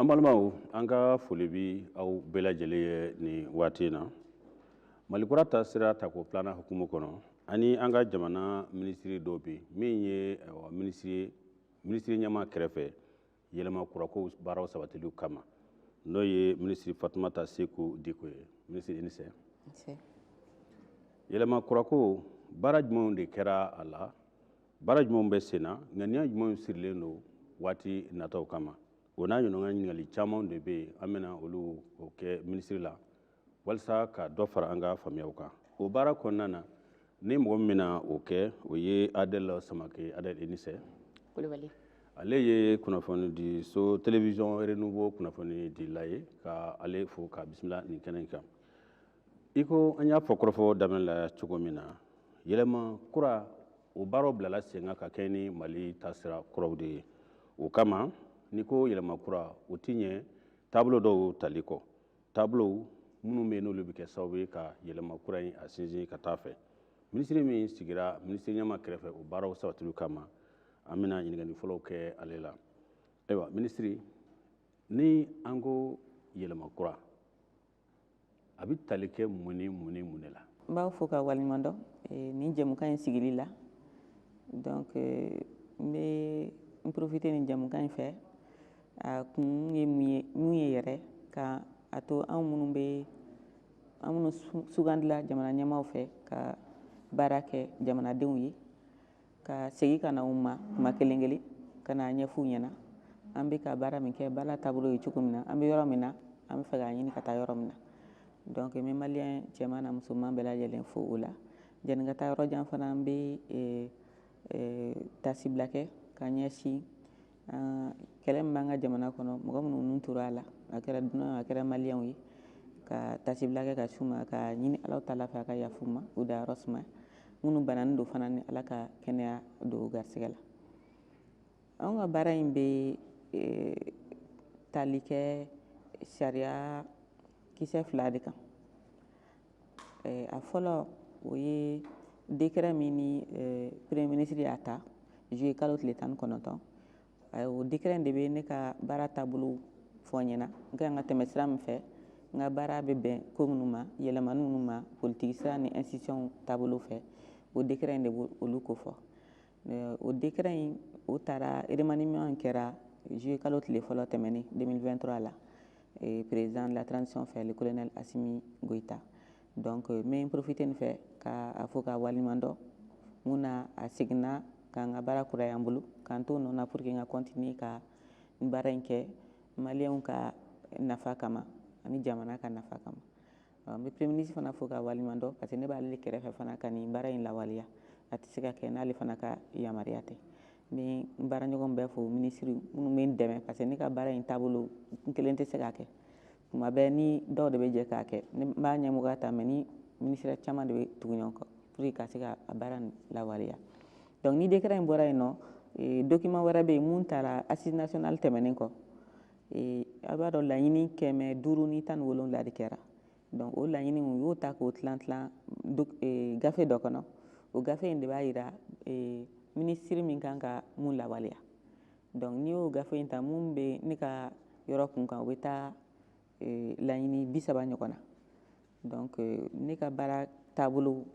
an balimaw an ka foli bi aw bɛɛ lajɛlen ye nin waati in na mali kura taasira tako filanan hukumu kɔnɔ ani an ka jamana minisiri dɔ bi min ye minisiri ɲɛmaa kɛrɛfɛ yɛlɛma kurakow baaraw sabatiliw kama n'o ye minisiri fatumata seku diko ye minisiri i ni sɛ yɛlɛma kurakow baara jumɛnw de kɛra a la baara jumɛnw bɛ sen na ŋaniya jumɛnw sirilen don waati nataw kama o n'a ɲɔgɔnna ɲininkali caman de bɛ yen an bɛna olu o kɛ minisiri la walisa ka dɔ fara an ka faamuyaw kan o baara kɔnɔna na ni mɔgɔ min bɛna o kɛ o ye adɛl samake adɛl i ni sɛ kulubali ale ye kunnafoni di so télévision renouveau kunnafoni dila ye ka ale fo ka bisimila nin kɛnɛ in kan i ko an y'a fɔ kɔrɔfɔ daminɛ la cogo min na yɛlɛma kura o baaraw bilala sen kan ka kɛɲɛ ni mali taasira kuraw de ye o kama n'i ko yɛlɛma kura o ti ɲɛ taabolo dɔw tali kɔ taabolow minnu bɛ yen n'olu bɛ kɛ sababu ye ka yɛlɛma kura in a sinsin ka taa fɛ minisiri min sigira minisiri ɲɛmaa kɛrɛfɛ o baaraw sabatili kama an bɛna ɲininkali fɔlɔw kɛ ale la ayiwa minisiri ni an ko yɛlɛma kura a bɛ tali kɛ mun ni mun ni mun de la n b'aw fo ka waleɲuman dɔn eh, nin jɛmukan in sigili la donc eh, n bɛ n profite nin jɛmukan in fɛ a kun ye mun ye mun ye yɛrɛ ka a to anw minnu bɛ an minnu sugandila jamana ɲɛmaaw fɛ ka baara kɛ jamanadenw ye ka segin ka na u ma kuma kelen kelen ka n'a ɲɛf'u ɲɛna an bɛ ka baara min kɛ baara taabolo ye cogo min na an bɛ yɔrɔ min na an bɛ fɛ k'a ɲini ka taa yɔrɔ min na donc n bɛ maliyɛn cɛman n'a musoman bɛɛ lajɛlen fo o la janni ka taa yɔrɔ jan fana an bɛ eh, eh, taasibila kɛ ka ɲɛsin kɛlɛ min b'an ka jamana kɔnɔ mɔgɔ minnu nin tora a la a kɛra dunan a kɛra maliyɛnw ye ka taasibila kɛ ka s'u ma ka ɲini alahu taala fɛ a ka yafa u ma u dayɔrɔ suma minnu bananen don fana ni ala ka kɛnɛya don u garisɛgɛ la anw ka baara in bɛ e, tali kɛ sariya kisɛ fila de kan a fɔlɔ o ye dekɛrɛ min ni premier minisiri y'a ta zuye kalo tile tan kɔnɔntɔn o dekɛrɛ in de bɛ ne ka baara taabolo fɔ n ɲɛna n ka kan ka tɛmɛ sira min fɛ n ka baara bɛ bɛn ko minnu ma yɛlɛmani minnu ma politigisira ni institution taabolo fɛ o dekɛrɛ in de b'olu ko fɔ euh, o décret in o taara remaniement in kɛra juillet kalo tile fɔlɔ tɛmɛnen 2023 la euh, président de la transition fɛ le colonel Assimi Goïta donc euh, n bɛ profiter nin fɛ ka a fo ka waleɲuman dɔn mun na a seginna k'an ka baara kuraya an bolo k'an to nɔ na pour que n ka continuer ka n baara in kɛ maliyɛnw ka nafa kama ani jamana ka nafa kama N bɛ Premier ministre fana fo k'a waleɲuman dɔn parce que ne b'ale de kɛrɛfɛ fana ka nin baara in lawaleya a tɛ se ka kɛ n'ale fana ka yamaruya tɛ n bɛ n baaraɲɔgɔn bɛɛ fo minisiri minnu bɛ n dɛmɛ parce que ne ka baara in taabolo n kelen tɛ se k'a kɛ tuma bɛɛ ni dɔw de bɛ jɛ k'a kɛ ne b'a ɲɛmɔgɔya ta mais ni minisiriya caman de bɛ tugu ɲɔgɔn kɔ pour que ka se ka a baara in lawaleya donc ni décret in bɔra yen nɔ eh, document wɛrɛ bɛ yen mun taara assise nationale tɛmɛnen kɔ Ee a b'a dɔn laɲini kɛmɛ duuru ni tan wolonwula de kɛra donc o laɲini u y'o ta k'o tilan tilan e, gafe dɔ kɔnɔ o gafe in de b'a yira e, minisiri min kan ka mun lawaleya donc n'i y'o gafe in ta mun bɛ ne ka yɔrɔ kun kan o bɛ taa e, laɲini bi saba ɲɔgɔn na donc ne ka baara taabolo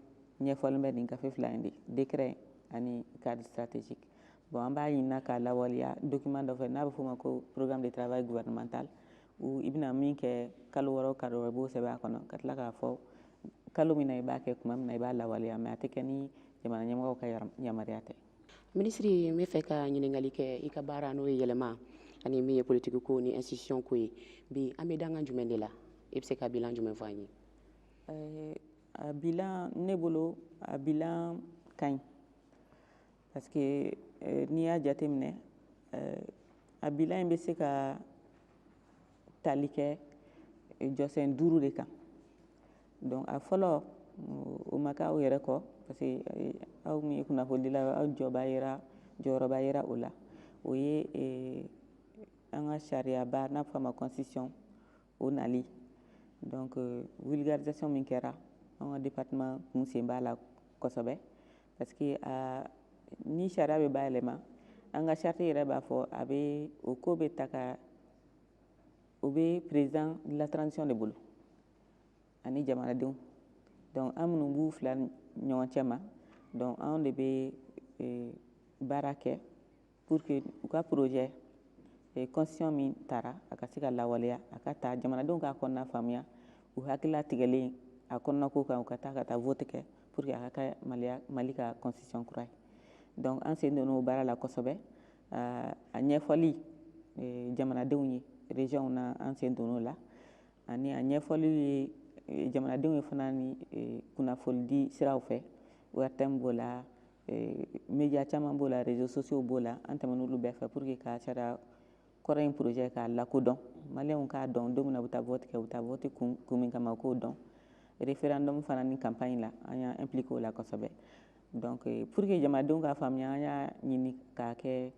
ɲɛfɔlen bɛ nin gafe fila in de décret ani cadre stratégique bon an b'a ɲinina k'a lawaleya document dɔ fɛ n'a bɛ f'o ma ko programme de travail gouvernemental i bɛna min kɛ kalo wɔɔrɔ o kalo wɔɔrɔ i b'o sɛbɛn a kɔnɔ ka tila k'a fɔ kalo min na i b'a kɛ tuma min na i b'a lawaleya mais a tɛ kɛ ni jamana ɲɛmɔgɔw ka yamaruya tɛ minisiri n bɛ fɛ ka ɲininkali kɛ i ka baara n'o ye yɛlɛma ani min ye politiki ko ni institution ko ye bi an bɛ dankan jumɛn de la i bɛ se ka bilan jumɛn fɔ an ye eh, a bilan ne bolo a bilan ka ɲi parce que eh, n'i y'a jateminɛ eh, a bilan in bɛ se ka tali kɛ jɔsen duuru de kan donc a fɔlɔ o ma kɛ aw yɛrɛ kɔ parce que eh, aw min ye kunnafonidila aw jɔyɔrɔba yera o la o ye eh, an ka sariyaba n'a fɔ a ma constitution o nali donc eh, vulgarisation min kɛra an ka département kun sen b'a la kosɛbɛ parce que ni sariya bɛ bayɛlɛma an ka charte yɛrɛ b'a fɔ a bɛ o ko bɛ ta ka o bɛ président de la transition de bolo ani jamanadenw donc an minnu b'u fila ɲɔgɔn cɛ ma donc anw de bɛ e, baara kɛ pour que u ka projet e, constitution min taara a ka se ka lawaleya a ka ta jamanadenw k'a kɔnɔna faamuya u hakilila tigɛlen a kɔnɔna ko kan u ka taa ka taa vote kɛ pour que a ka kɛ Mali ka constitution kura ye donc an sen donn'o baara la kosɛbɛ a ɲɛfɔli e, jamanadenw ye régionw na an sen donn'o la Ani a ɲɛfɔli ye e, jamanadenw ye fana ni e, kunnafonidi siraw fɛ ORTM b'o la e, média caman b'o la réseaux sociaux b'o la an tɛmɛn'olu bɛɛ fɛ pour que ka sariya kɔrɔ in projet k'a lakodɔn maliyɛnw k'a dɔn don min na u bɛ taa vote kɛ u bɛ taa vote kun, kun min kama u k'o dɔn référendum fana ni campagne la an y'an impliqué o la kosɛbɛ donc pour que jamanadenw k'a faamuya an y'a ɲini k'a kɛ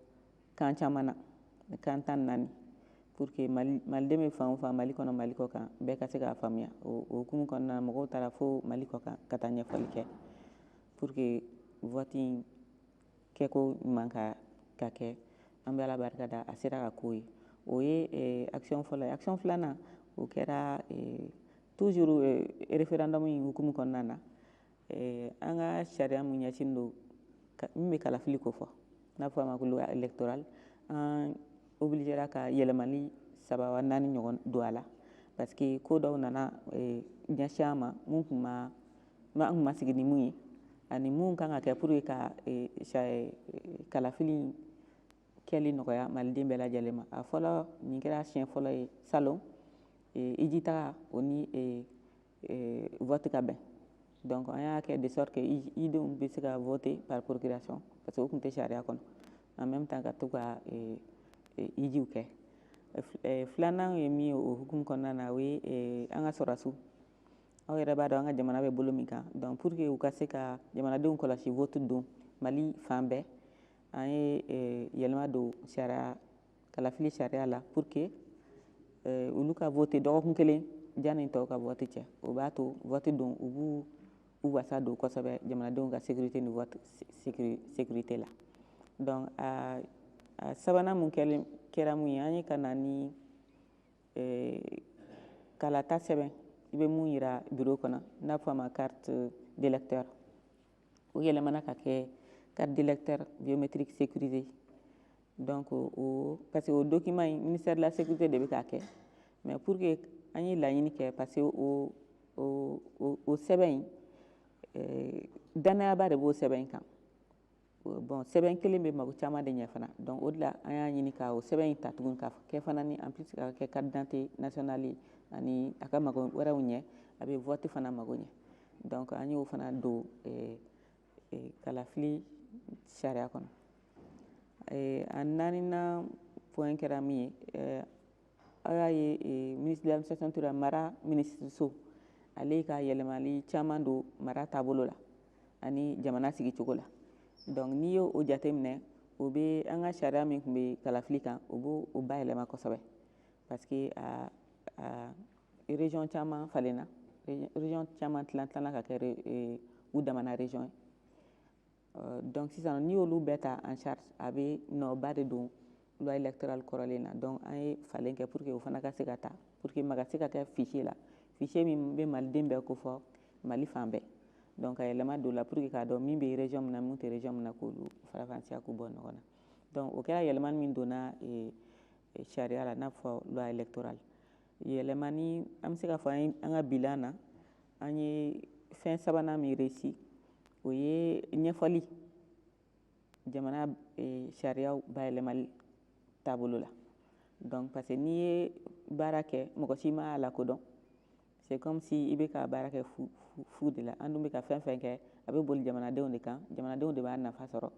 kan caman na kan tan ni naani pour que maliden bɛ fan o fan mali kɔnɔ mali kɔ kan bɛɛ ka se k'a faamuya o hukumu kɔnɔna mɔgɔw taara fo mali kɔ kan ka taa ɲɛfɔli kɛ pour que vote in kɛko ɲuman ka ka kɛ an bɛ ala barika da a sera ka k'o ye o ye eh, action fɔlɔ ye action filanan o kɛra eh, toujours eh, référendum in hukumu kɔnɔna na eh, an ka sariya mun ɲɛsin don min bɛ kalafili ko fɔ n'a fɔ a ma ko loi électorale an obligera ka yɛlɛmali saba wa naani ɲɔgɔn don a la parce que ko dɔw nana eh, ɲɛsin an ma mun tun ma an tun ma sigi ni mun ye ani mun kan ka kɛ pour que ka eh, eh, kalafili kɛli nɔgɔya maliden bɛɛ lajɛlen ma a fɔlɔ nin kɛra siɲɛ fɔlɔ ye salon hiji taga o ni euh, vote ka bɛn donc an y'a kɛ de sorte que hijidenw bɛ se ka voter par procuration parce que o tun tɛ sariya kɔnɔ en même temps ka to ka euh, euh, hiji kɛ filanan ye min ye o hukumu kɔnɔna na o ye an ka sɔrɔdasiw aw yɛrɛ b'a dɔn an ka jamana bɛ bolo min kan donc pour que u ka se ka jamanadenw kɔlɔsi vote don mali fan bɛɛ an ye yɛlɛma don sariya kalafili sariya la pour que euh, olu ka voter dɔgɔkun kelen janni tɔw ka vote cɛ o b'a to vote don u b'u u wasa don kosɛbɛ jamanadenw ka sécurité ni vote sécurité la donc a a sabanan mun kɛlen kɛra mun ye an ye ka na ni euh, kalata sɛbɛn i bɛ mun yira bureau kɔnɔ n'a fɔ a ma carte d'électeur o yɛlɛmana ka kɛ carte d'électeur biométrique sécurisée Donc parce que o document in ministère de la sécurité de bɛ k'a kɛ mais pour que an ye laɲini kɛ parce que o sɛbɛn in eh, danayaba de b'o sɛbɛn in kan bon sɛbɛn kelen bɛ mago caman de ɲɛ fana donc o de la an y'a ɲini ka o sɛbɛn in ta tugun ka kɛ fana ni en plus ka kɛ carte d'identité nationale ani a ka mago wɛrɛw ɲɛ a bɛ vote fana mago ɲɛ donc an y'o fana don eh, kalafili sariya kɔnɔ a naaninan point kɛra min ye aw y'a ye ministère de l'administration territoriale mara minisiriso ale ka yɛlɛmali caman don mara taabolo la ani jamana sigicogo la donc n'i y'o o jateminɛ o bɛ an ka sariya min tun bɛ kalafili kan o b'o o bayɛlɛma kosɛbɛ parce que a région caman falenna région caman tilan tilanna ka kɛ eh, u damana région ye euh, donc sisan n'i y'olu bɛɛ ta en charge a bɛ nɔba de don loi électorale kɔrɔlen na donc an ye falen kɛ pour que o fana ka se ka ta pour que maa ka se ka kɛ fichier la fichier min bɛ maliden bɛɛ kofɔ mali fan bɛɛ donc a yɛlɛma donna pour que k'a dɔn min bɛ région min na min tɛ région min na k'olu farafansiya k'u bɔ ɲɔgɔn na donc o kɛra yɛlɛmani min donna eh, eh, sariya la n'a fɔ loi électorale yɛlɛmani an bɛ se k'a fɔ an an ka bilan na an ye fɛn sabanan min réussi o ye ɲɛfɔli jamana e, sariyaba yɛlɛmali taabolo la donc parce que n'i ye baara kɛ mɔgɔ si m'a lakodɔn c'est comme si i bɛ ka baara kɛ fu, fu, fu de la an dun bɛ ka fɛn fɛn kɛ a bɛ boli jamanadenw de kan jamanadenw de b'a nafa sɔrɔ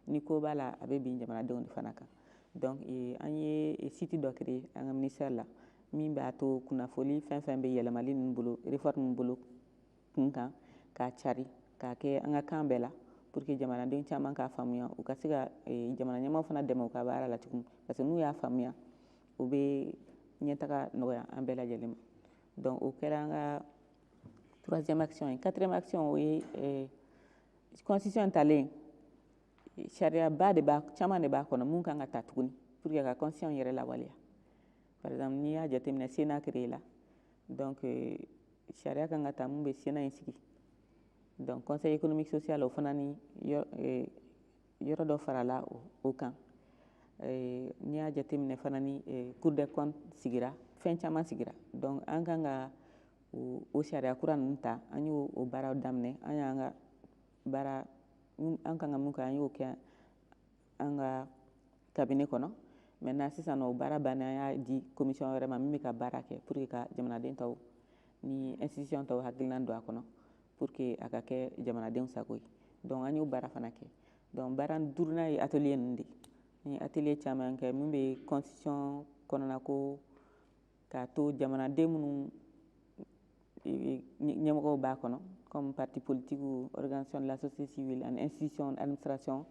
ni ko b'a la a bɛ bin jamanadenw de fana kan donc eh, an ye eh, site dɔ créer an ka ministère la min b'a to kunnafoli fɛn fɛn bɛ yɛlɛmali ninnu bolo réforme ninnu bolo kun kan k'a cari k'a kɛ an ka kan bɛɛ la pour que jamanaden caman k'a faamuya u ka se ka eh, jamana ɲɛmaaw fana dɛmɛ u ka baara la tuguni parce que n'u y'a faamuya o bɛ ɲɛtaga nɔgɔya an bɛɛ lajɛlen ma donc o kɛra an ka troisième action ye quatrième action o ye eh, constitution talen sariyaba de b'a caman de b'a kɔnɔ mun kan ka ta tuguni pour que ka constitution yɛrɛ lawaleya par exemple n'i y'a jateminɛ sénat créé la donc euh, sariya kan ka ta mun bɛ sénat in sigi donc conseil économique social o fana ni yɔrɔ euh, dɔ farala o kan euh, n'i y'a jateminɛ fana ni cour des comptes sigira fɛn caman sigira donc an kan ka o sariya kura ninnu ta an y'o o baaraw daminɛ an y'an ka baara an kan ka mun kɛ an y'o kɛ an ka cabinet kɔnɔ maintenant sisan o baara banna an y'a di commission wɛrɛ ma min bɛ ka baara kɛ pour que ka jamanaden tɔw ni institution tɔw hakilinan don a kɔnɔ pour que a ka kɛ jamanadenw sago ye donc an y'o baara fana kɛ donc baara duurunan ye atelier ninnu de ye an ye atelier caman kɛ min bɛ constitution kɔnɔna ko k'a to jamanaden minnu ɲɛmɔgɔw b'a kɔnɔ comme parti politique ou organisation de la société civile ani institution administration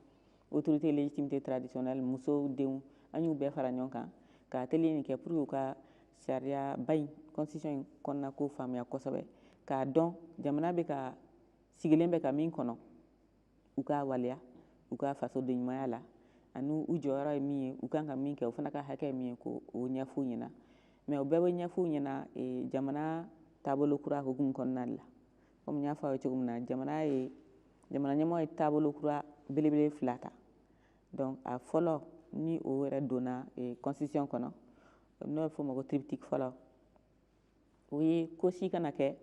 autorité légitimité traditionnelle musow denw an y'u bɛɛ fara ɲɔgɔn kan ka atelier nin kɛ pour que u ka sariyaba in constitution in kɔnɔna ko faamuya kosɛbɛ k'a dɔn jamana bɛ ka sigilen bɛ ka min kɔnɔ u k'a waleya u ka fasodenɲumanya la ani u jɔyɔrɔ ye min ye u kan ka min kɛ u fana ka hakɛ ye min ye ko o ɲɛf'u ɲɛna mais o bɛɛ bɛ ɲɛf'u ɲɛna e, jamana taabolo kura hukumu kɔnɔna la comme n y'a fɔ aw ye cogo min na jamana ye jamana ɲɛmɔgɔ ye taabolo kura belebele fila ta donc a fɔlɔ ni o yɛrɛ donna e, constitution kɔnɔ n'o bɛ fɔ o ma ko triptyque fɔlɔ o ye ko si kana kɛ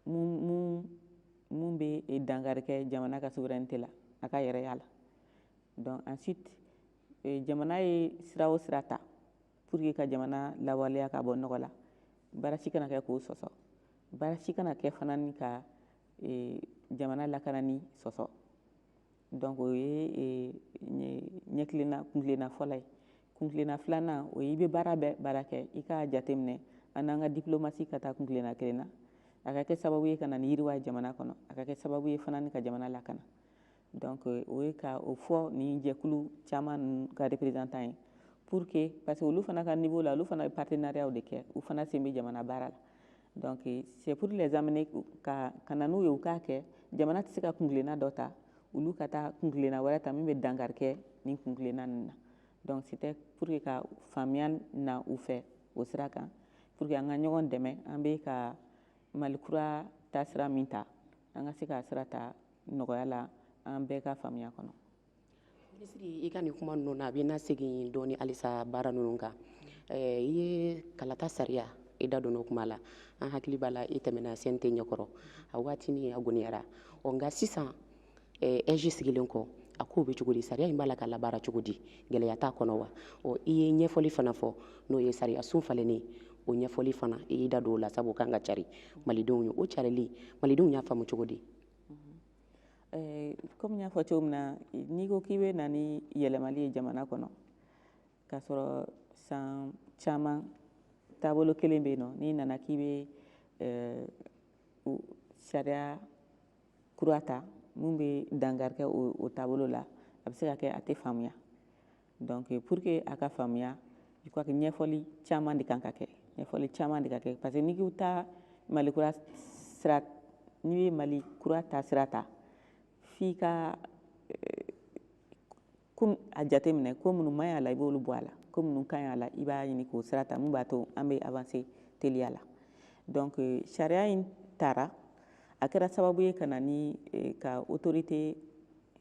mun bɛ e dankari kɛ jamana ka souveraineté la a ka yɛrɛya la donc ensuite jamana ye sira o sira ta pour que ka jamana lawaleya ka bɔ nɔgɔ la baara si kana kɛ k'o sɔsɔ baara si kana kɛ fana ni ka e, jamana lakanani sɔsɔ donc o ye ɲɛkilenna kuntilenna fɔlɔ ye kuntilenna filanan o ye i bɛ baara bɛɛ baara kɛ i k'a jateminɛ an n'an ka diplomasi ka taa kuntilenna kelen na a ka kɛ sababu ye ka na ni yiriwa ye jamana kɔnɔ a ka kɛ sababu ye fana ni ka jamana lakana donc o ye ka o fɔ nin jɛkulu caman ninnu ka représentant ye pour que parce que olu fana ka niveau la olu fana bɛ partenariat de kɛ u fana sen bɛ jamana baara la Donc c'est pour les amener ka ka na n'u ye u k'a kɛ jamana tɛ se ka kuntilenna dɔ ta olu ka taa kuntilenna wɛrɛ ta min bɛ dankari kɛ nin kuntilenna ninnu na donc c'était pour que ka faamuya na u fɛ o sira kan pour que an ka ɲɔgɔn dɛmɛ an bɛ ka mali kura taasira min ta an ka se k'a sira ta nɔgɔya la an bɛɛ ka faamuya kɔnɔ Minisiri i ka nin kuma ninnu na an bɛ na segin dɔɔnin halisa baara ninnu kan i ye kalata sariya i da donna o kuma la an hakili b'a la i tɛmɛna CNT ɲɛkɔrɔ a waati min a gɛlɛyara ɔ nka sisan AIGE sigilen kɔ a k'o bɛ cogo di sariya in b'a la ka labaara cogo di gɛlɛya t'a kɔnɔ wa ɔ i ye ɲɛfɔli fana fɔ n'o ye sariya sun falenlen o ɲɛfɔli fana i da don o la sabu ka kan ka cari malidenw ye o carili malidenw y'a faamu cogo di Eh, kɔmi n y'a fɔ cogo min na n'i ko k'i bɛ na ni yɛlɛmali ye jamana kɔnɔ k'a sɔrɔ san caman taabolo kelen bɛ yen nɔ n'i nana k'i bɛ eh, sariya kura ta min bɛ dankari kɛ o taabolo la a bɛ se ka kɛ a tɛ faamuya Donc pour que a ka faamuya je crois que ɲɛfɔli caman de kan ka kɛ ɲɛfɔli caman de ka kɛ parce que n'i ko taa mali kura sira n'i ye mali kura taasira ta f'i ka eh, a jateminɛ ko minnu man ɲi a la i b'olu bɔ a la ko minnu ka ɲi a la i b'a ɲini k'o sira ta mun b'a to an bɛ avancer teliya la donc eh, sariya in tara a kɛra sababu ye ka na ni eh, ka autorité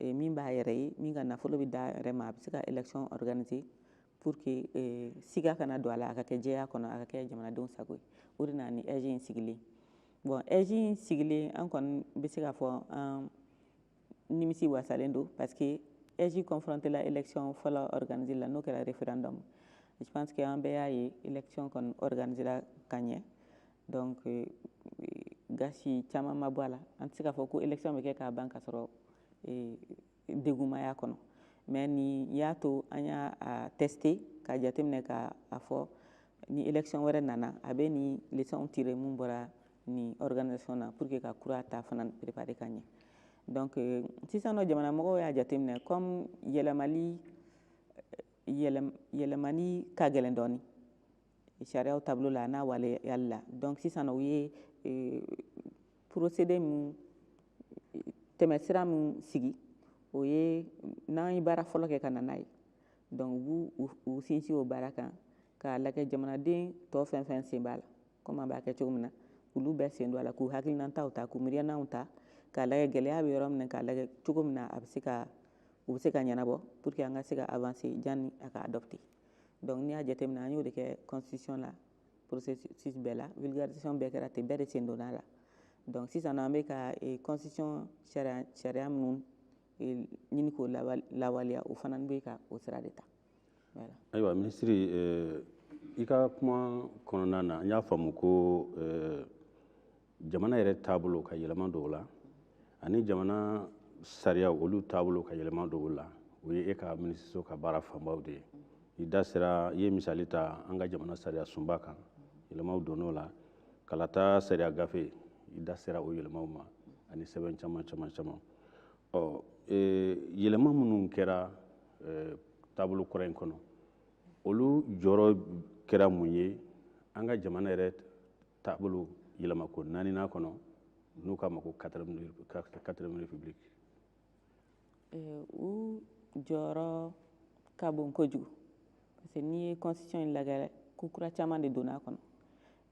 eh, min b'a yɛrɛ ye min ka nafolo bɛ d'a yɛrɛ ma a bɛ se ka élection organiser pour que eh, siga kana don a la a ka kɛ jɛya kɔnɔ a ka kɛ jamanadenw sago ye o de nana ni AIGE in sigilen bon AIGE in sigilen an kɔni bɛ se k'a fɔ an nimisi wasalen don parce que AIGE confronté la élection fɔlɔ organiser la n'o kɛra référendum je pense que an bɛɛ y'a ye élection kɔni organisera ka ɲɛ donc euh, gasi caman ma bɔ a la an tɛ se k'a fɔ ko élection bɛ kɛ k'a ban ka sɔrɔ euh, degun ma y'a kɔnɔ mais nin y'a to an y'a tester ka jateminɛ k'a fɔ ni élection wɛrɛ nana a bɛ nin leçon tirer mun bɔra nin organisation na pour que ka kura ta fana préparer ka ɲɛ donc euh, sisan nɔ jamanamɔgɔw y'a jateminɛ comme yɛlɛmali yɛlɛmani ka gɛlɛn dɔɔnin sariyaw taabolo la n'a waleyali la donc sisan u ye euh, procédé min tɛmɛsira min sigi o ye n'an ye baara fɔlɔ kɛ ka na n'a ye donc u b'u sinsin o baara kan k'a lajɛ jamanaden tɔ fɛn fɛn sen b'a la comme an b'a kɛ cogo min na olu bɛɛ sen don a la k'u hakilinataw ta k'u miiriyanaw ta k'a lajɛ gɛlɛya bɛ yɔrɔ min na k'a lajɛ cogo min na a bɛ se ka u bɛ se ka ɲɛnabɔ pour que an ka se ka avancer janni a ka adopter donc n'i y'a jateminɛ an y'o de kɛ constitution la processus bɛɛ la vulgarisation bɛɛ kɛra ten bɛɛ de sen donna a la donc sisan an bɛ ka constitution sariya minnu ɲini k'o lawaleya o fana bɛ ka o sira de ta ayiwa minisiri i ka kuma kɔnɔna na n y'a faamu ko jamana yɛrɛ taabolo ka yɛlɛma don o la ani jamana sariya olu taabolo ka yɛlɛma don o la o ye e ka minisiriso ka baara fanbaw de ye i da sera i ye misali ta an ka jamana sariya sunba kan yɛlɛmaw donn'o la kalata sariya gafe i da sera o yɛlɛmaw ma ani sɛbɛn caman caman caman ɔ e, yɛlɛma minnu kɛra e, taabolo kura in kɔnɔ olu jɔyɔrɔ kɛra mun ye an ka jamana yɛrɛ taabolo yɛlɛmako naaninan kɔnɔ n'u k'a ma ko quatrième république u jɔyɔrɔ ka bon kojugu parce que n'i ye constitution in lagɛ ko kura caman de donna a kɔnɔ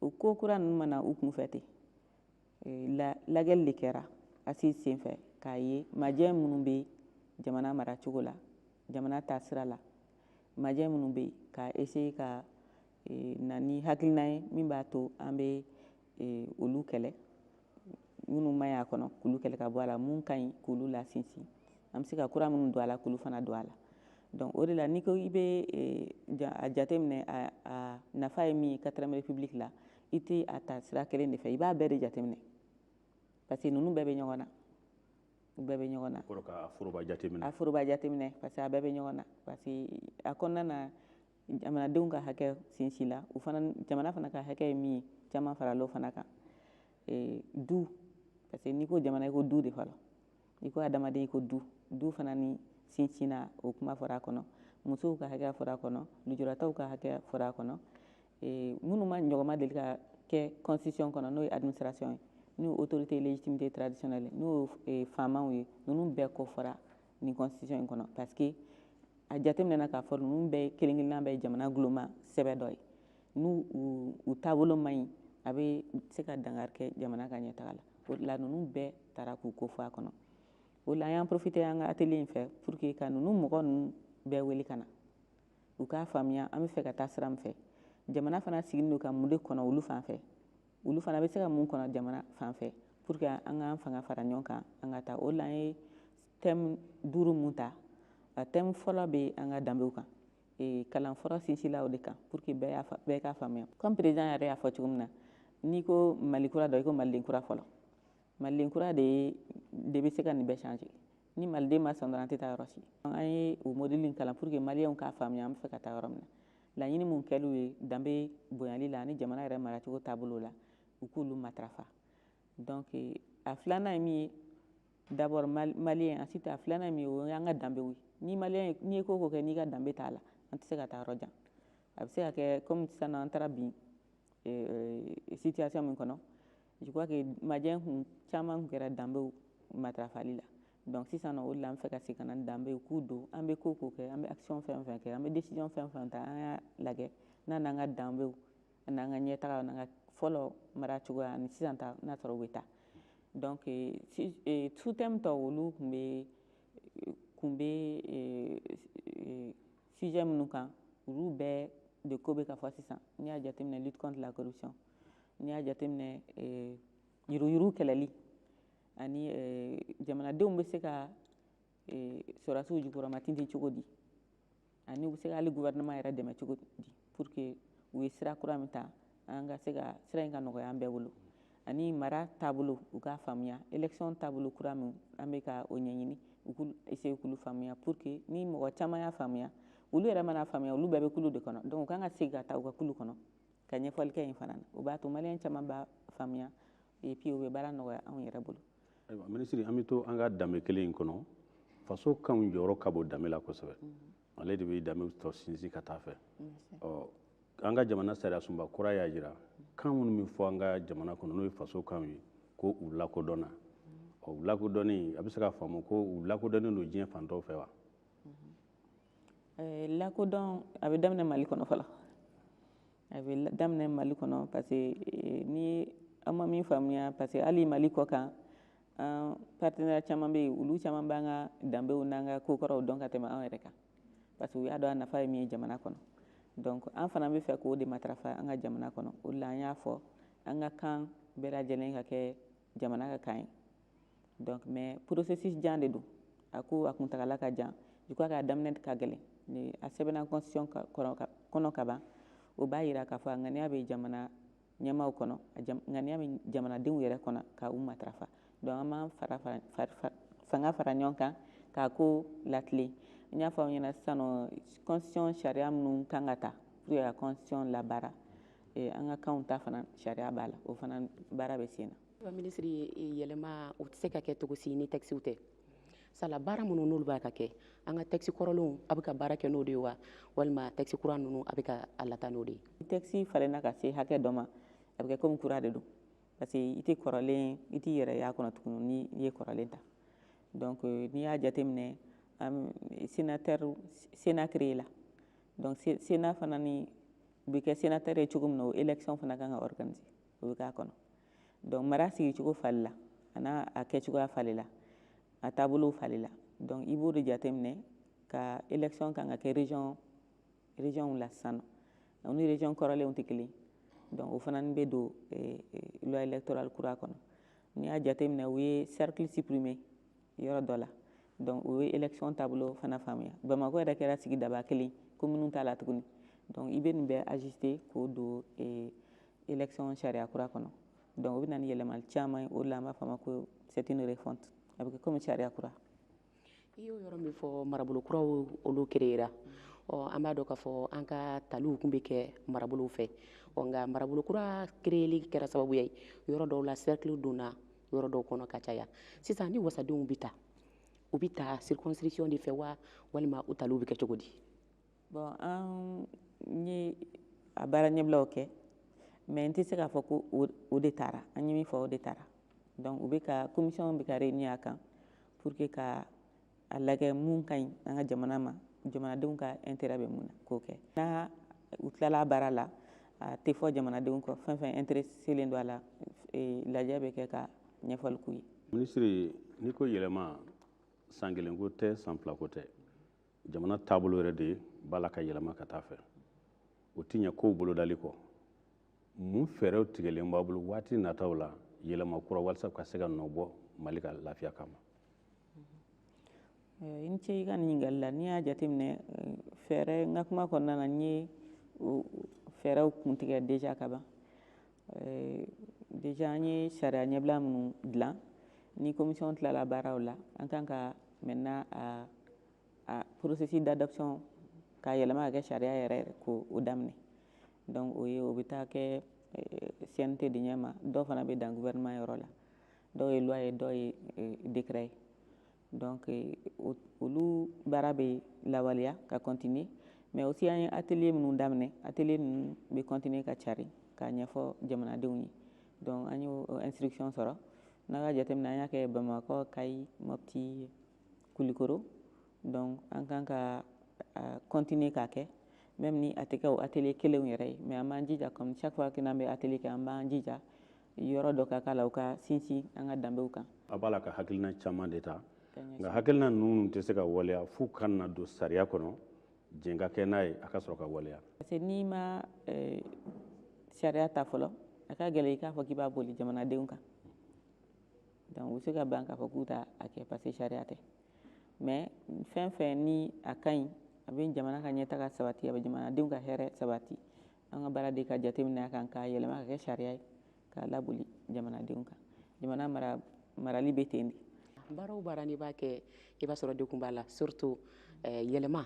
o ko kura ninnu ma na u kunfɛ ten lagɛli de kɛra assises senfɛ k'a ye majɛ minnu bɛ jamana maracogo la jamana taasira la majɛ minnu bɛ yen ka essayer ka na ni hakilina ye min b'a to an bɛ olu kɛlɛ minnu man ɲi a kɔnɔ k'olu kɛlɛ ka bɔ a la mun ka ɲi k'olu lasinsin an bɛ se ka kura minnu don a la k'olu fana don a la donc o de la n'i ko i bɛ a jateminɛ a nafa ye min ye quatrième république la i tɛ a ta sira kelen de fɛ i b'a bɛɛ de jateminɛ parce que ninnu bɛɛ bɛ ɲɔgɔn na u bɛɛ bɛ ɲɔgɔn na a foroba jateminɛ parce que a bɛɛ bɛ ɲɔgɔn na parce que a kɔnɔna na jamanadenw ka hakɛ sinsila u fana jamana fana ka hakɛ ye min ye caman farala o fana kan e, du parce que n'i ko jamana i ko du de fɔlɔ n'i ko adamaden i ko du du fana ni sinsinna o kuma fɔra a kɔnɔ musow ka hakɛ fɔra a kɔnɔ lujuratɔw ka hakɛ fɔra a kɔnɔ e, minnu ma ɲɔgɔnma deli ka kɛ constitution kɔnɔ n'o ye administration ye n'o autorité légitimité traditionnelle n'o ye e, faamaw ye ninnu bɛɛ kofɔra nin constitution in kɔnɔ parce que a jateminɛna k'a fɔ ninnu bɛɛ kelen kelenna bɛɛ jamana guloma sɛbɛ dɔ ye n'u u taabolo man ɲi a bɛ se ka dankari kɛ jamana ka ɲɛtaga la o de la ninnu bɛɛ taara k'u ko fɔ a kɔnɔ o la an y'an profité an ka atelier in fɛ pour que ka ninnu mɔgɔ ninnu bɛɛ wele ka na u k'a faamuya an bɛ fɛ ka taa sira min fɛ jamana fana sigilen don ka mun de kɔnɔ olu fan fɛ olu fana bɛ se ka mun kɔnɔ jamana fan fɛ pour que an k'an fanga fara ɲɔgɔn kan an ka taa o la an ye thème duuru mun ta a thème fɔlɔ bɛ an ka danbew kan e, kalan fɔlɔ sinsila o de kan pour que bɛɛ k'a faamuya comme président yɛrɛ y'a fɔ cogo min na n'i ko mali kura dɔ i ko maliden kura fɔlɔ maliden kura de de bɛ se ka nin bɛɛ changer ni maliden ma sɔn dɔrɔn an tɛ taa yɔrɔ si an ye o mɔdeli kalan pour que maliyɛnw k'a faamuya an bɛ fɛ ka taa yɔrɔ min na laɲini mun kɛliw ye danbe bonyali la ani jamana yɛrɛ maracogo taabolo la u k'olu matarafa donc a filanan ye min ye d'abord maliyɛn ensuite a filanan ye min ye o y'an ka danbew ye ni maliyɛn ye n'i ye ko o ko kɛ n'i ka danbe t'a la an tɛ se ka taa yɔrɔ jan a bɛ se ka kɛ comme sisan an taara bin situation min kɔnɔ Je crois que majɛ caman kun kɛra danbew matarafali la donc sisan o de la an fɛ ka segin ka na danbew k'u don an bɛ ko o ko kɛ an bɛ action fɛn o fɛn kɛ an bɛ décision fɛn o fɛn ta an y'a lajɛ n'a n'an ka danbew an'an ka ɲɛtaga n'an ka fɔlɔ mara cogoya ani sisan ta n'a sɔrɔ bɛ taa donc euh, euh, sous-thème tɔw olu tun bɛ kun bɛ sujet minnu kan olu bɛɛ de ko bɛ ka fɔ sisan n'i y'a jateminɛ lutte contre la corruption n'i y'a jateminɛ eh, yuruyuruw kɛlɛli ani eh, jamanadenw bɛ se ka eh, sɔrɔdasiw jukɔrɔmatintin cogo di ani u bɛ se ka hali gouvernement yɛrɛ dɛmɛ cogo di Pour que u ye sira kura min ta an ka se ka sira in ka nɔgɔya an bɛɛ bolo ani mara taabolo u k'a faamuya élection taabolo kura min an bɛ ka o ɲɛɲini u k'u essayer k'olu faamuya pour que ni mɔgɔ caman y'a faamuya olu yɛrɛ man'a faamuya olu bɛɛ bɛ kulu de kɔnɔ donc u kan ka segin ka taa u ka kulu kɔnɔ ka ɲɛfɔli kɛ yen fana na o b'a to maliyɛn caman b'a faamuya et puis o bɛ baara nɔgɔya anw yɛrɛ bolo. ayiwa minisiri an bɛ to an ka danbe kelen in kɔnɔ faso kanw jɔyɔrɔ ka bon danbe la kosɛbɛ. Mm -hmm. ale de bɛ danbe tɔ sinsin ka taa fɛ ɔ an ka jamana sariyasunba kura y'a jira kan minnu bɛ fɔ an ka jamana kɔnɔ n'o ye faso kanw ye ko u lakodɔnna ɔ u lakodɔnni a bɛ se ka faamu ko u lakodɔnnen don diɲɛ fan tɔw fɛ wa eh, lakodɔn a bɛ daminɛ mali kɔnɔ fɔlɔ a bɛ daminɛ mali kɔnɔ parce que eh, ni an ma min faamuya parce que hali mali kɔ kan an partenaire caman bɛ yen olu caman b'an ka danbew n'an ka kokɔrɔw dɔn ka tɛmɛ an yɛrɛ kan parce que u y'a dɔn a nafa ye min ye jamana kɔnɔ donc an fana b'a fɛ k'o de matarafa an ka jamana kɔnɔ o de la an y'a fɔ an ka kan bɛɛ lajɛlen ka kɛ jamana ka kan ye donc mais processus jan de don a ko a kuntagala ka jan je crois k'a daminɛ ka gɛlɛn ni a sɛbɛnna constitution kɔnɔ ka ban o b'a jira k'a fɔ a ŋaniya bɛ jamana ɲɛmaaw kɔnɔ ŋaniya bɛ jamanadenw yɛrɛ kɔnɔ ka u matarafa donc an b'an fanga fara ɲɔgɔn kan k'a ko latilen n y'a fɔ aw ɲɛna sisan nɔ constitution sariya minnu kan ka ta pour que ka constitution labaara eh, an ka kanw ta fana sariya b'a la o fana baara bɛ sen na minisiri yɛlɛma o tɛ se ka kɛ cogo si ni tɛkisiw tɛ sala baara minnu n'olu b'a ka kɛ an ka tɛkisi kɔrɔlenw a bɛ ka baara kɛ n'o de ye wa walima tɛkisi kura ninnu a bɛ ka a lataa n'o de ye tɛkisi falenna ka se hakɛ dɔ ma a bɛ kɛ komi kura de don parce que i tɛ kɔrɔlen i t'i yɛrɛ y'a kɔnɔ tuguni ni i ye kɔrɔlen ta donc euh, n'i y'a jateminɛ um, sénateur sénat créé la donc sénat fana n'i bɛ kɛ sénateur ye cogo min na o élection fana kan ka organiser o bɛ k'a kɔnɔ donc mara sigicogo falenna an'a kɛcogoya falenna a taabolow falenna donc i b'o de jateminɛ ka élection kan ka kɛ région région la sisan nɔ o ni région kɔrɔlenw tɛ kelen donc o fana bɛ don eh, eh, loi électorale kura kɔnɔ n'i y'a jateminɛ u ye cercle supprimer yɔrɔ dɔ la donc o ye élection taabolo fana faamuya bamakɔ yɛrɛ kɛra sigidaba kelen kominiw t'a la tuguni donc i bɛ nin bɛɛ ajuster k'o don eh, élection sariya kura kɔnɔ donc o bɛ na ni yɛlɛmali caman ye o de la an b'a fɔ a ma ko c'est une refonte a bɛ kɛ komi sariya kura i y'o yɔrɔ min fɔ marabolo kuraw olu kereyera ɔ an b'a dɔn k'a fɔ an ka taliw tun bɛ kɛ marabolow fɛ ɔ nka marabolo kura kereyeli kɛra sababuya ye yɔrɔ dɔw la cercle donna yɔrɔ dɔw kɔnɔ ka caya sisan ni wasadenw bɛ ta u bɛ ta circonscription de fɛ wa walima u taliw bɛ kɛ cogo di bon an ye a baara ɲɛbilaw kɛ mais n tɛ se k'a fɔ ko o de tara an ye min fɔ o de tara donc u bɛ ka commission bɛ ka réunir a kan pour que ka a lajɛ mun ka ɲi an ka jamana ma jamanadenw ka intérêt bɛ mun na k'o kɛ n'a u tilala baara la a tɛ fɔ jamanadenw kɔ fɛn fɛn intéresselen don a la e, lajɛ bɛ kɛ ka ɲɛfɔli k'u ye minisiri n'i ko yɛlɛma san kelen ko tɛ san fila ko tɛ jamana taabolo yɛrɛ de b'a la ka yɛlɛma ka taa fɛ o tɛ ɲɛ kow bolodali kɔ mun fɛɛrɛw tigɛlen b'a bolo waati nataw la yɛlɛma kura walasa ka se ka nɔ bɔ mali ka lafiya kama i ni ce i ka nin ɲininkali la n'i y'a jateminɛ eh, fɛɛrɛ n ka kuma kɔnɔna na n ye fɛɛrɛw kuntigɛ déjà ka ban eh, déjà an ye sariya ɲɛbila minnu dilan ni commission tilala baaraw la an kan ka maintenant a porosisi dadasɔn ka yɛlɛma kɛ sariya yɛrɛ yɛrɛ ko o daminɛ dɔnku o ye o bɛ taa kɛ sɛte de ɲɛ ma dɔw fana bɛ dan wɛrɛma yɔrɔ la dɔw ye ye dɔw ye dera ye olu baara bɛ lawaleya ka kɔntinin mɛ o si ye a teli minnu daminɛ a ninnu bɛ kɔntinin ka cari k'a ɲɛfɔ jamanadenw ye dɔnku an y'o sirikisɛɔn sɔrɔ n'a ka jateminɛ an y'a kɛ bamakɔ ka mɔti ye kulikoro donc an kan ka continuer k'a kɛ même ni a tɛ kɛ o atelier kelenw yɛrɛ ye mais an b'an jija comme chaque fois que n'an bɛ atelier kɛ an b'an jija yɔrɔ dɔ ka k'a la u ka sinsin an ka danbew kan a b'a la ka hakilina caman de ta nka hakilina ninnu tɛ se ka waleya f'u ka na don sariya kɔnɔ jɛn ka kɛ n'a ye a ka sɔrɔ ka waleya parce que n'i ma sariya ta fɔlɔ a ka gɛlɛn i k'a fɔ k'i b'a boli jamanadenw kan donc u bɛ se ka ban k'a fɔ k'u t'a kɛ parce que sariya tɛ mais fɛn fɛn ni a ka ɲi a bɛ jamana ka ɲɛtaga sabati a bɛ jamanadenw ka hɛrɛ sabati an ka baara de ka jateminɛ a kan k'a yɛlɛma ka kɛ sariya ye k'a laboli jamanadenw kan jamana mara marali bɛ ten de baara o baara n'i b'a kɛ i b'a sɔrɔ degun b'a la surtout eh, yɛlɛma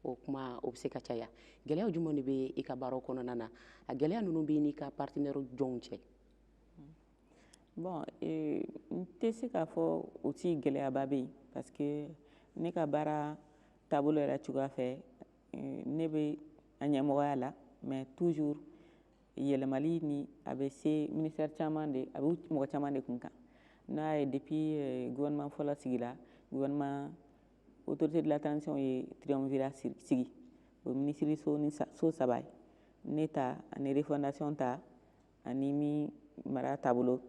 o kuma o bɛ se ka caya gɛlɛya jumɛn de bɛ i ka baaraw kɔnɔna na a gɛlɛya ninnu bɛ n'i ka partenaire jɔnw cɛ bon eh, n tɛ se k'a fɔ aussi gɛlɛyaba bɛ yen parce que ne ka baara taabolo yɛrɛ cogoya fɛ eh, ne bɛ a ɲɛmɔgɔya la mais toujours yɛlɛmali nin a bɛ se ministère caman de a bɛ mɔgɔ caman de kun kan n'a y'a ye depuis eh, gouvernement fɔlɔ sigira gouvernement autorité de la transition ye triumvirat sigi o ye minisiriso ni so saba ye ne ta ani refondation ta ani min mara taabolo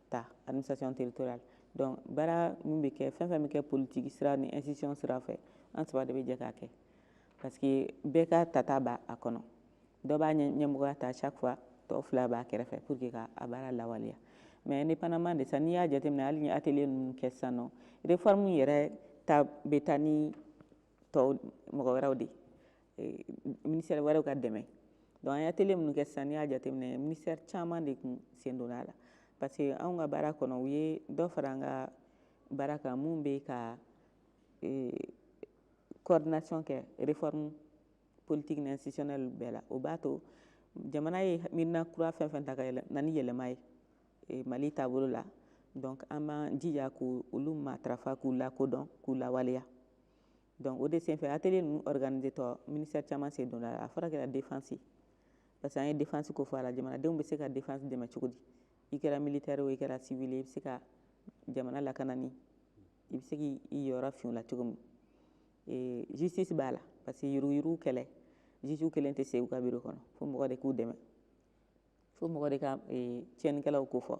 ta administration territoriale donc baara min bɛ kɛ fɛn fɛn bɛ kɛ politiki sira ni institution sira fɛ an saba de bɛ jɛ k'a kɛ parce que bɛɛ ka tata b'a kɔnɔ dɔ b'a ɲɛmɔgɔya ta chaque fois tɔ fila b'a kɛrɛfɛ pour que ka a baara lawaleya mais indépendamment de ça n'i y'a jateminɛ hali ni atelier ninnu kɛ sisan nɔ réforme yɛrɛ ta bɛ taa ni tɔw mɔgɔ wɛrɛw de eh, ministère wɛrɛw ka dɛmɛ donc an ye atelier minnu kɛ sisan n'i y'a jateminɛ ministère caman de kun sen donna a la parce que anw ka baara kɔnɔ u ye dɔ fara an ka baara kan mun bɛ ka eh, coordination kɛ réforme politique ni institutionnelle bɛɛ la o b'a to jamana ye miirina kura fɛn fɛn ta ka yɛlɛ na ni yɛlɛma ye eh, mali taabolo la donc an b'an jija k'olu matarafa k'u lakodɔn k'u lawaleya donc o de senfɛ atelier ninnu organiser tɔ ministère caman sen donna a la a fɔra kɛra défense parce que an ye défense ko fɔ a la jamanadenw bɛ se ka défense dɛmɛ cogo di i kɛra militaire o i kɛra civil i bɛ se ka jamana lakanani i bɛ se k'i yɔrɔ fin o la cogo min ee, justice b'a la parce que yuruguyurugu kɛlɛ juge kelen tɛ se u ka biro kɔnɔ fo mɔgɔ de k'u dɛmɛ fo mɔgɔ de ka ee, tiɲɛnikɛlaw kofɔ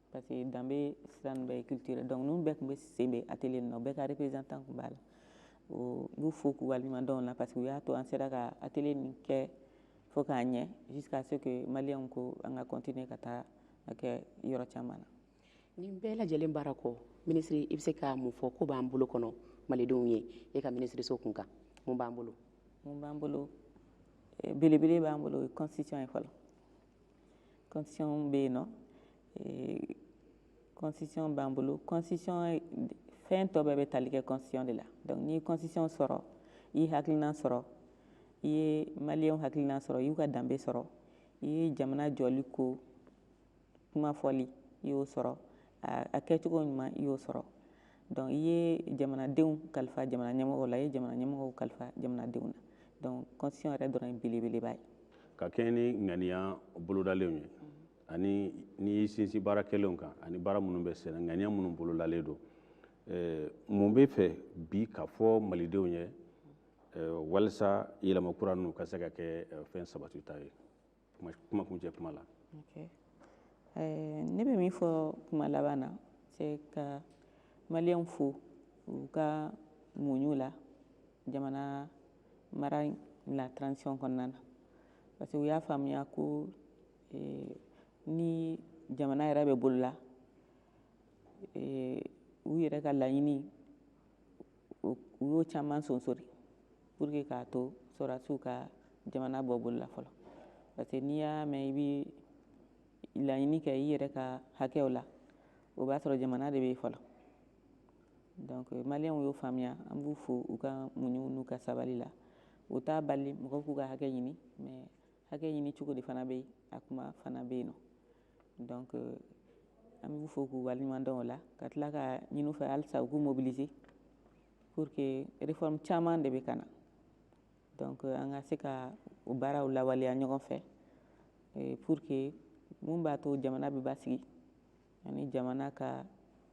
Parce que danbe sira ninnu bɛɛ ye culture ye donc ninnu bɛɛ tun bɛ sen bɛ atelier ninnu na u bɛɛ ka représentant tun b'a la o n b'u fo k'u waleɲuman dɔn o la parce que u y'a to an sera ka atelier nin kɛ fo k'a ɲɛ jusqu'à ce que maliyɛnw ko an ka continuer ka taa a kɛ yɔrɔ caman na. nin bɛɛ lajɛlen baara kɔ minisiri i bɛ se ka mun fɔ ko b'an bolo kɔnɔ malidenw ye e ka minisiriso kun kan mun b'an bolo. mun b'an bolo eh, belebele b'an bolo o ye constitution ye fɔlɔ constitution bɛ yen nɔ constitution eh, b'an bolo constitution fɛn tɔ bɛɛ bɛ tali kɛ constitution de la donc n'i ye constitution sɔrɔ i ye hakilina sɔrɔ i ye maliyɛnw hakilina sɔrɔ i y'u ka danbe sɔrɔ i ye jamana jɔli ko kuma fɔli i y'o sɔrɔ a kɛcogo ɲuman i y'o sɔrɔ donc i ye jamanadenw kalifa jamana ɲɛmɔgɔw la i ye jamana ɲɛmɔgɔw kalifa jamanadenw na donc constitution yɛrɛ dɔrɔn ye belebeleba ye ka kɛɲɛ ni ŋaniya bolodalenw ye ani n'i y'i sinsin baara kɛlenw kan ani baara minnu bɛ senna ŋaniya minnu bolodalen don eh, mun b'i fɛ bi ka fɔ malidenw ye eh, walisa yɛlɛma kura ninnu ka se ka kɛ eh, fɛn sabatita ye kuma kuncɛ kuma la ne bɛ min fɔ kuma laban na c'est ka maliyɛnw fo u ka muɲu la jamana mara la transition kɔnɔna na parce que u y'a faamuya ko ni jamana yɛrɛ bɛ bolola u yɛrɛ ka laɲini u y'o caman sonsori pour que k'a to sɔrɔdasiw ka jamana bɔ bolo la fɔlɔ parce que n'i y'a mɛn i bɛ laɲini kɛ i yɛrɛ ka hakɛw la o b'a sɔrɔ jamana de bɛ yen fɔlɔ donc maliyɛnw y'o faamuya an b'u fo u ka muɲu n'u ka sabali la o t'a bali mɔgɔw k'u ka hakɛ ɲini mais hakɛ ɲini cogo de fana bɛ yen a kuma fana bɛ yen nɔ donc euh, an b'u fo k'u waleɲuman dɔn o la ka tila k'a ɲini u fɛ halisa u k'u mobiliser pour que réforme caman de bɛ ka na donc euh, an ka se ka o baaraw lawaleya ɲɔgɔn fɛ euh, pour que mun b'a to jamana bɛ basigi ani jamana ka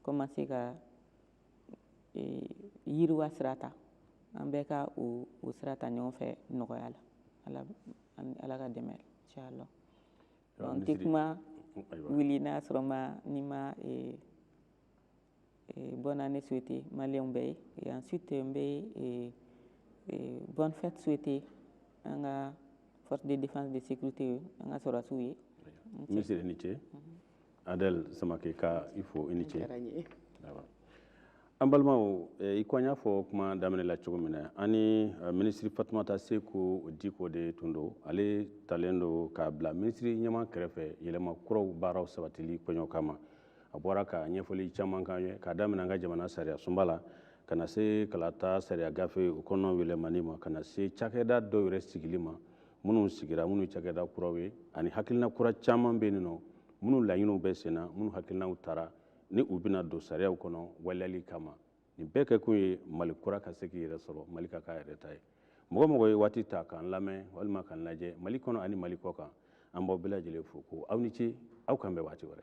commencer ka yiriwa sira ta an bɛɛ ka o o sira ta ɲɔgɔn fɛ nɔgɔya la ala ala ka dɛmɛ inchallah n tɛ kuma wuli n'a sɔrɔ ma ne ma e, e, bonne année souhaiter maliyɛnw bɛɛ ye et ensuite n bɛ e, e, bonne fête souhaiter an ka force de défense de sécurité ye an ka sɔrɔdasiw ye minisiri i ni ce mhm. adɛl samake ka i fo i ni ce an balimaw eh, i ko an y'a fɔ kuma daminɛ la cogo min na ani eh, minisiri fatumata seku diko de tun don ale talen don k'a bila minisiriɲɛmaa kɛrɛfɛ yɛlɛma kuraw baaraw sabatili kɔɲɔ kama a bɔra ka ɲɛfɔli caman k'an ye k'a daminɛ an ka jamana sariya sunba la ka na se kalata sariya gafe o kɔnɔ yɛlɛmani ma ka na se cakɛda dɔw yɛrɛ sigili ma minnu sigira minnu cakɛda kuraw ye ani hakilina kura caman bɛ yen nɔ minnu laɲiniw bɛ senna minnu hakilinaw tara ni u bɛna don sariyaw kɔnɔ waleyali kama nin bɛɛ kɛkun ye mali kura ka se k'i yɛrɛ sɔrɔ mali ka k'a yɛrɛ ta ye mɔgɔ o mɔgɔ ye waati ta k'an lamɛn walima k'an lajɛ mali kɔnɔ ani mali kɔ kan an b'aw bɛɛ lajɛlen fo ko aw ni ce aw k'an bɛn waati wɛrɛ